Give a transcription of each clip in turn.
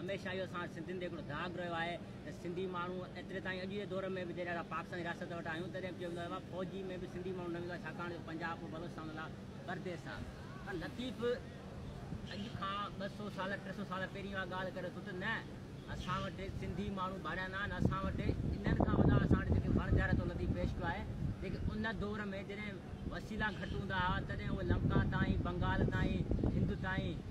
هميشه اهو اسان وٽ سنڌين تي هڪڙو داغ رهيو آهي ته سنڌي ماڻهو ايتري تائين اڄ جي دور ۾ به جڏهن اسان پاڪستاني رياست وٽ آهيون تڏهن به چيو ويندو آهي ته فوجي ۾ به سنڌي ماڻهو نه ويندو آهي ڇاڪاڻ جو پنجاب ۽ بلوچستان لاء پرديس آهي پر لطيف اڄ کان ٻه سو سال ٽي سو سال پهرين اها ڳالهه ڪري ٿو ته نه اسان وٽ سنڌي ماڻهو ڀاڙيا نه آهن اسان وٽ انهن کان وڏا اسان وٽ جيڪي وڻ جهر ٿو لطيف پيش ڪيو آهي جيڪي ان دور ۾ جڏهن وسيلا گهٽ هوندا هئا تڏهن اهي لنڪا تائين بنگال تائين هند تائين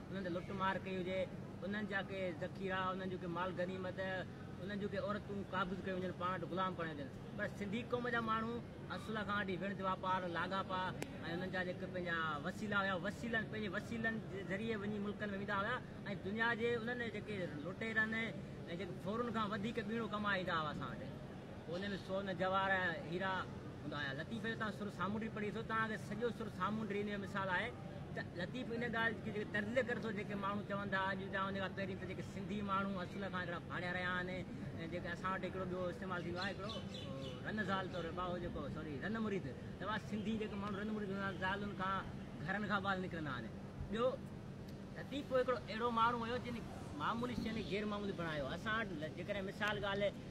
انهن تي لٽ مار ڪئي هجي، انهن جا ڪي ذخيرا، انهن جو ڪي مال غنيمت، انهن جون ڪي عورتون قابض ڪيون وڃن، پاڻ وٽ غلام بڻايون وڃن، پر سنڌي قوم جا ماڻهو اصل کان وٺي وڻج واپار، لاڳاپا ۽ انهن جا جيڪي پنهنجا وسيلا هيا، وسيلن، پنهنجي وسيلن جي ذريعي وڃي ملڪن ۾ ويندا هيا ۽ دنيا جي انهن جيڪي لٽيرن ۽ جيڪي ڦورن کان وڌيڪ ٻيڻو ڪمائي ايندا هئا اسان وٽ. ان ۾ سون، جواهر ۽ هيرا هوندا هيا. لطيف جو تان سر سامونڊي پڙهي ٿو، تان کي سڄو سر سامونڊي ان جو مثال آهي ته لطيف ان ڳالهه کي جيڪي تجزيه ڪري ٿو جيڪي ماڻهو چون ٿا اڄ جا ان کان پهرين ته جيڪي سنڌي ماڻهو اصل کان هڪڙا ڀانيا رهيا آهن ۽ جيڪي اسان وٽ هڪڙو ٻيو استعمال ٿيندو آهي هڪڙو رن زال طور ٻاهو جيڪو سوري رن مريد توا سنڌي جيڪي ماڻهو رن مريد هوندا زالن کان گهرن کان ٻال نڪرندا آهن ٻيو لطيف هڪڙو اهڙو ماڻهو هيو جن معمولي شين کي غير معمولي بڻايو اسان وٽ جيڪڏهن مثال ڳالهه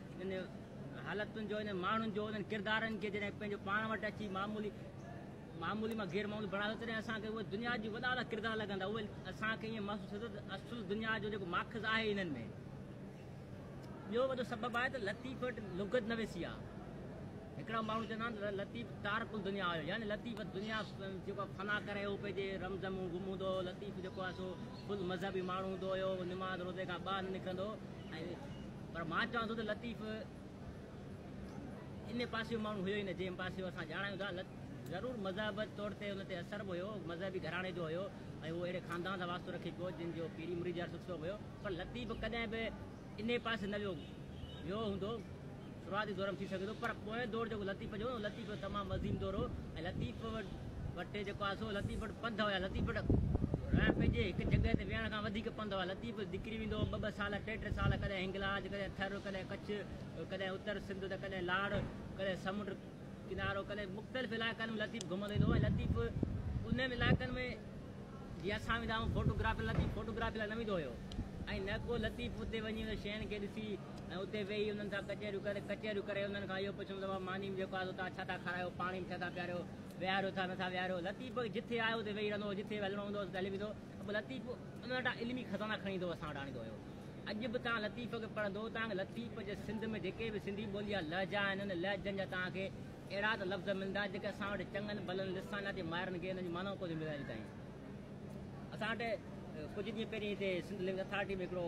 انهن حالتن جو، انهن ماڻهن جو، انهن ڪردارن کي جڏهن پنهنجو پاڻ وٽ اچي معمولي معمولي مان غير معمولي بڻايو تڏهن اسان کي اهي دنيا جي وڏا وڏا ڪردار لڳندا اهي اسان کي ائين محسوس ٿيندو ته اصل دنيا جو جيڪو ماخذ آهي انهن ۾ ٻيو وڏو سبب آهي ته لطيف وٽ لغت نويسي آهي هڪڙا ماڻهو چوندا آهن ته لطيف تارڪ الدنيا هيو يعني لطيف دنيا جيڪو فنا ڪري هو پنهنجي رمزم گم هوندو هو لطيف جيڪو آهي سو فل مذهبي ماڻهو هوندو هيو نماز روزي کان ٻاهر نه نڪرندو هو ۽ پر مان چوان ٿو ته لطيف ان پاسي جو ماڻهو هيو ئي نه جنهن پاسي اسان ڄاڻايون ٿا. ضرور مذهب طور تي ان تي اثر به هيو، مذهبي گهراڻي جو هيو ۽ اهو اهڙي خاندان سان واسطو رکي پيو جن جو پيري مريد يا سلسلو به هيو. پر لطيف ڪڏهن به انهي پاسي نه ويو ويو هوندو. شروعاتي دور ۾ ٿي سگهي ٿو پر پوئين دور جيڪو لطيف جو هو لطيف جو تمام عظيم دور هو ۽ لطيف وٽ جيڪو آهي سو لطيف وٽ پنڌ هئا. لطيف وٽ رهڻ پئجي، هڪ جڳهه تي ويهڻ کان وڌيڪ پنڌ هئا. لطيف نڪري ويندو هو ٻه ٻه سال، ٽي ٽي سال، ڪڏهن هنگلاج، ڪڏهن ٿر، ڪڏهن ڪڇ، ڪڏهن اتر سنڌ ته ڪڏهن لاڙ، ڪڏهن سمنڊ ڪنارو، ڪڏهن مختلف علائقن ۾ لطيف گهمندو ايندو هو ۽ لطيف انهن علائقن ۾ جيئن اسان ويندا آهيون فوٽو گرافي لاء، لطيف فوٽو گرافي لاء نه ويندو هيو ۽ نه ڪو لطيف اتي وڃي انهن شين کي ڏسي ۽ اتي ويهي انهن سان ڪچهريون ڪري، ڪچهريون ڪري انهن کان اهو پڇندو هو ته ماني ۾ جيڪو آهي سو توهان ڇا ٿا کارايو، پاڻي ۾ ڇا ٿا پياريو؟ ويهاريو ٿا نٿا ويهاريو لطيف جٿي آيو اتي ويهي رهندو هو جٿي هلڻو هوندو هو اتي هلي ويندو هو لطيف ان وٽان علمي خزانا کڻي ٿو اسان وٽ آڻيندو هيو اڄ به توهان لطيف کي پڙهندو توهان لطيف جي سنڌ ۾ جيڪي به سنڌي ٻولي جا لهجا آهن انهن لهجن جا توهان کي اهڙا ته لفظ ملندا جيڪي اسان وٽ چڱن ڀلن لسانياتي ماهرن کي انهن جي معنائون ڪو ٿيون ملن اڄ تائين اسان وٽ ڪجهه ڏينهن پهرين هتي سنڌ لينگويج اٿارٽي ۾ هڪڙو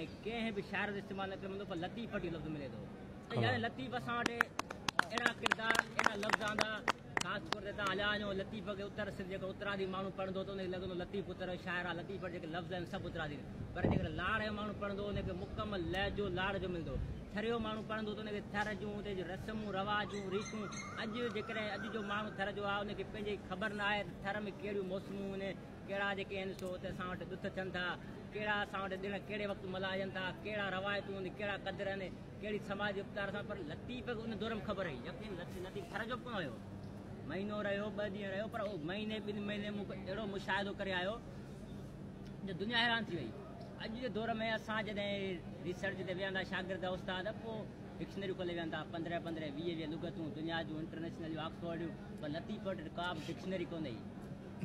۽ ڪنهن به شاعر جو استعمال نه ڪري ملندو پر لطيف وٽ اهو لفظ ملي ٿو ته يار لطيف اسان وٽ اهڙا ڪردار اهڙا لفظ آندا خاص طور تي تان هليا وڃو لطيف کي اتر سنڌ جيڪو اترادي ماڻهو پڙهندو ته ان کي لڳندو لطيف اتر جو شاعر آهي لطيف وٽ جيڪي لفظ آهن سڀ اترادي پر جيڪڏهن لاڙ جو ماڻهو پڙهندو ان کي مڪمل لهجو لاڙ جو ملندو ٿر جو ماڻهو پڙهندو ته ان کي ٿر جون اتي جون رسمون رواجون ريتون اڄ جيڪڏهن اڄ جو ماڻهو ٿر جو آهي ان کي پنهنجي خبر نه آهي ته ٿر ۾ ڪهڙيون موسمون آهن ڪهڙا جيڪي آهن سو ته اسان وٽ ڏٿ ٿين ٿا، ڪهڙا اسان وٽ ڏڻ ڪهڙي وقت ملهائجن ٿا، ڪهڙا روايتون آهن، ڪهڙا قدر آهن، ڪهڙي سماجي اپچار اٿن، پر لطيف کي ان دور ۾ خبر هئي. يقين لطيف ٿر جو به ڪونه هيو. مهينو رهيو، ٻه ڏينهن رهيو، پر مهيني ٻن مهيني ۾ هو اهڙو مشاهدو ڪري آيو جو دنيا حيران ٿي وئي. اڄ جي دور ۾ اسان جڏهن ريسرچ تي ويهندا شاگرد استاد پوء ڊڪشنريون کولي ويهن ٿا، پندرهن پندرهن ويهه ويهه لغتون دنيا جون انٽرنيشنل جون آڪسفورڊ جون، پر لطيف وٽ ڪا به ڊڪشنري ڪونه هئي.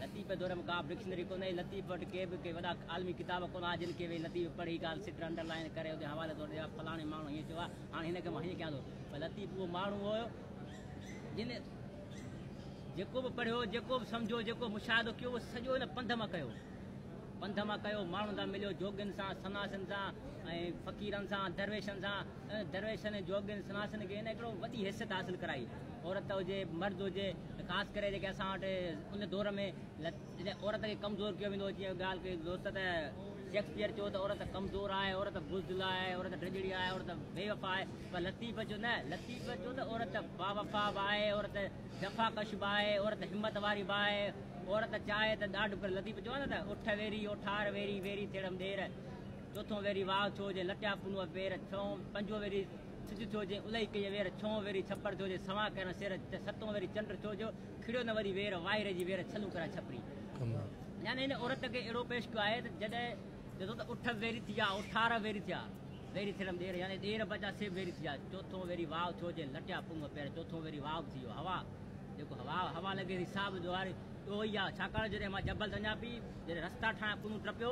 لطيفي دور ۾ ڪابه ڊڪشنري ڪونه هئي، لطيف وٽ ڪي به ڪي وڏا عالمي ڪتاب ڪونه هئا، جن کي ويهي لطيف پڙهي ڳالهه سٽ، انڊر لائين، ڪري اتي حوالي طور ڏيان، فلاڻي ماڻهو هيئن چيو آهي، هاڻي هن کي مان هيئن ڪيان ٿو. پر لطيف اهو ماڻهو هيو، جنهن جيڪو به پڙهيو، جيڪو به سمجهيو، جيڪو به مشاهدو ڪيو، اهو سڄو هن پنڌ مان ڪيو. پنڌ مان ڪيو، ماڻهن سان مليو، جوڳين سان، سناسين سان ۽ فقيرن سان، درويشن سان، درويشن ۽ جوڳين سناسن کي هن هڪڙو وڏي حيثيت حاصل ڪرائي. عورت هجي مرد هجي خاص ڪري جيڪي اسان وٽ ان دور ۾ جڏهن عورت کي ڪمزور ڪيو ويندو هو جيئن ڳالهه ڪئي دوست ته شيڪسپيئر چيو ته عورت ڪمزور آهي عورت بزدل آهي عورت ڊڄڙي آهي عورت بي وفا آهي پر لطيف چيو نه لطيف چيو ته عورت باوفا به آهي عورت جفاڪش به آهي عورت همت واري به آهي عورت چاهي ته ڏاڍ پر لطيف چيو آهي نه ته اٺ ويري اوٺار ويري ويري تيڙم ڏير چوٿون ويري واء ٿيو جي لٽيا پنهون پير ڇهون پنجون ويري سج ٿيو جي الئي ڪيئي وير ڇهون ويري ڇپر ٿيو جي سنوان ڪرن سير ستون ويري چنڊ ٿيو جو کڙيو نه وري وير وائي رهجي وير ڇلون ڪريا ڇپري يعني هن عورت کي اهڙو پيش ڪيو آهي ته جڏهن چئجو ته اٺ ويري ٿي جا اٺارهن ويري ٿيا ويري ٿيڻ ڏير يعني ڏير بچا سي ويري ٿي جا چوٿون ويري واء ٿيو جي لٽيا پنهون پير چوٿون ويري واء به ٿي ويو هوا جيڪو هوا هوا لڳي ٿي سا به ڏوهاري ڏوهي آ ڇاڪاڻ جڏهن مان جبل تي وڃان پي جڏهن رستا ٺاهيا پنهون ٽپيو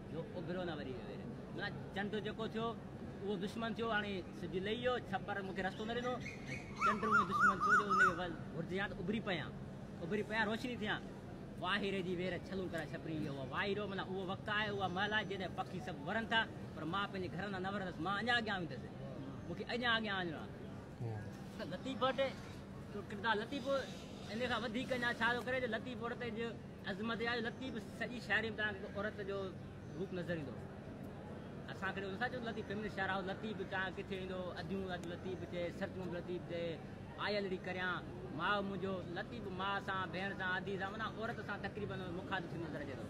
جو اڀريو نه وري ويري. منا چنڊ جيڪو ٿيو اهو دشمن ٿيو هاڻي سج لهي ويو ڇپر مون کي رستو نه ڏنو چنڊ اهو دشمن ٿيو جو ان کي ول گهرجيان ته اڀري پيان اڀري پيان روشني ٿيان واهيري جي وير ڇلون ڪرائي ڇپري ويو اهو واهيرو منا اهو وقت آهي اها مهل آهي جڏهن پکي سڀ ورن ٿا پر مان پنهنجي گهر اندر نه ورندس مان اڃا اڳيان ويندس مون کي اڃا اڳيان وڃڻو آهي لطيف ڀٽ جو ڪردار لطيف ان کان وڌيڪ اڃا ڇا ٿو ڪري جو لطيف ڀٽ تي جو عظمت يا لطيف سڄي شاعري ۾ توهان کي هڪ عورت جو روپ نظر ايندو اسان کي نٿا چون لطيف فيمنسٽ شاعر آهو لطيف توهان ڪٿي ايندو اديون اڄ لطيف چي سرتون به لطيف چي آيل ڙي ڪريان ماء منهنجو لطيف ماء سان ڀيڻ سان ادي سان معنی عورت سان تقريبن مخاطب ٿيندو نظر اچي ٿو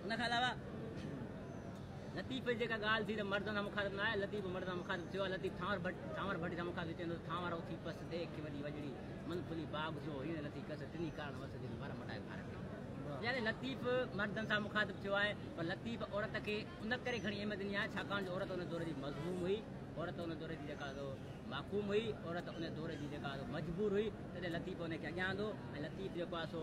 ان کان علاوه لطيف جي جيڪا ڳالهه ٿي ته مردن سان مخاطب نه آهي لطيف مردن سان مخاطب ٿيو آهي لطيف ٿانور ڀٽ ٿانور ڀٽي سان مخاطب ٿيندو ٿانور اٿي پس دي اکي وڏي وڄڙي من کلي باغ جو هيڻ لٿي کس ٽني ڪارڻ وس دل مر مٽائي ڀار کي يعني لطيف مردن سان مخاطب ٿيو آهي پر لطيف عورت کي ان ڪري گھڻي اهميت ڏني آهي ڇاڪاڻ جو عورت ان دور جي مظلوم هئي عورت ان دور جي جيڪا محکوم هئي عورت ان دور جي جيڪا مجبور هئي تڏهن لطيف ان کي اڳيان آندو ۽ لطيف جيڪو آهي سو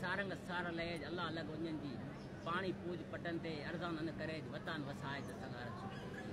سارنگ سار لئج الله لڳ اڃن جي پاڻي پوڄ پٽن تي ارزان ان ڪريج وتان وسائج سگهارن سوڪ ڪري.